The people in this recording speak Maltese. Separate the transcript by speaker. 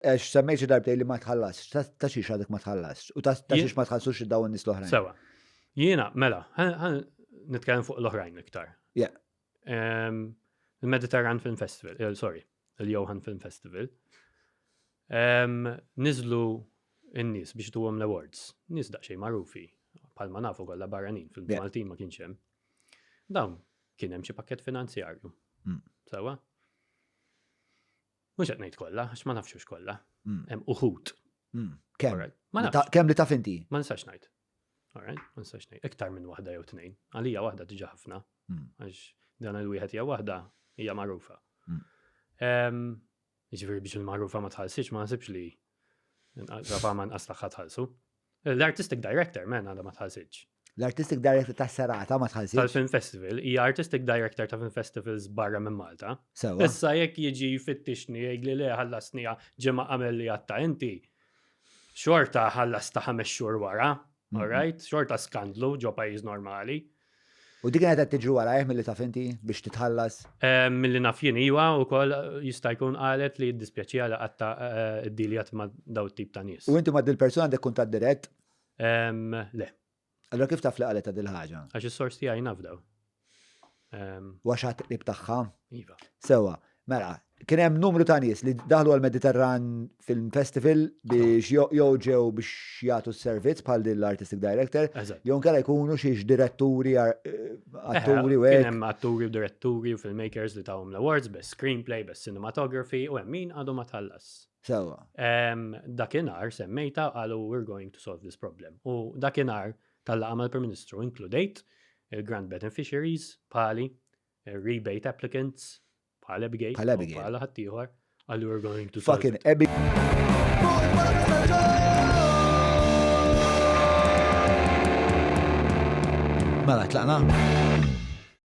Speaker 1: Għax semmejt xi darbtej li ma tħallasx, ta' xiex għadek ma tħallasx, u ta' xiex ma tħallsux id-daw n-nis l-oħrajn. Sewa, jiena,
Speaker 2: mela, nitkellem fuq l-oħrajn iktar. Ja.
Speaker 1: Il-Mediterran
Speaker 2: Film Festival, eh, sorry, il-Johan Film Festival, nizlu n-nis biex tuwom l-awards, nis daqxej marufi, palma nafu kolla barranin fil-Maltin ma kienx hemm. Dawn kien hemm xi pakket finanzjarju. Mm. Sewa? Mhux qed ngħid kollha, għax ma nafx hux kollha. Mm. Hemm uħud. Mm. Kemm?
Speaker 1: Kemm li taf inti? Ma nistax ngħid.
Speaker 2: Alright, ma nistax ngħid. Iktar minn waħda jew tnejn. Għalija waħda diġà ħafna. Mm. Għax dan il-wieħed hija waħda hija magħrufa. Jiġifieri biex il-magħrufa ma tħallsix ma nasibx li Rafa ma nqas tagħha tħallsu. L-Artistic Director, men, għadha ma tħassitx. L-Artistic Director
Speaker 1: ta' serata ma tħassitx. Tal-Film Festival, hija
Speaker 2: Artistic Director ta' Film Festivals barra minn Malta. Sewa. Issa jekk
Speaker 1: jiġi
Speaker 2: fittixni jgħid li le ħallasnija ġimgħa qabel li għatta inti. Xorta ħallas ta' ħames xhur wara, all right? Xorta skandlu ġo pajjiż normali. U dik kienet
Speaker 1: qed tiġri warajh milli taf inti biex titħallas? Milli naf jien
Speaker 2: iva wkoll jista' jkun qalet li jiddispjaċiha li qatta ddiljat ma' daw it-tip ta' nies. U inti ma' dil-persuna għandek kuntatt
Speaker 1: dirett?
Speaker 2: Le. Allura kif
Speaker 1: taf li qalet dil-ħaġa? Għax is-sors tiegħi nafdaw. U għax ħadt qrib tagħha? Iva. Sewwa,
Speaker 2: Mela,
Speaker 1: kien hemm numru ta' nies li daħlu għall-Mediterran Film Festival biex jo- jew ġew biex jagħtu s-servizz bħal din l-artistic director, Eżatt. jew nkella jkunu xi diretturi, ar- eh, atturi u Kien hekk. hemm atturi u
Speaker 2: diretturi u filmmakers li tawhom l-awards best screenplay, best cinematography u hemm min għadu ma tħallas. Sewwa. Em,
Speaker 1: Dakinhar
Speaker 2: semmejta qalu we're going to solve this problem. U dakinhar tal-laqgħa mal-Prim Ministru inkludejt il-Grand Beneficiaries bħali rebate applicants bħal Abigail, bħal Abigail, bħal ħaddieħor, għallu we're going to fucking Abigail.
Speaker 1: Mela, tlaqna?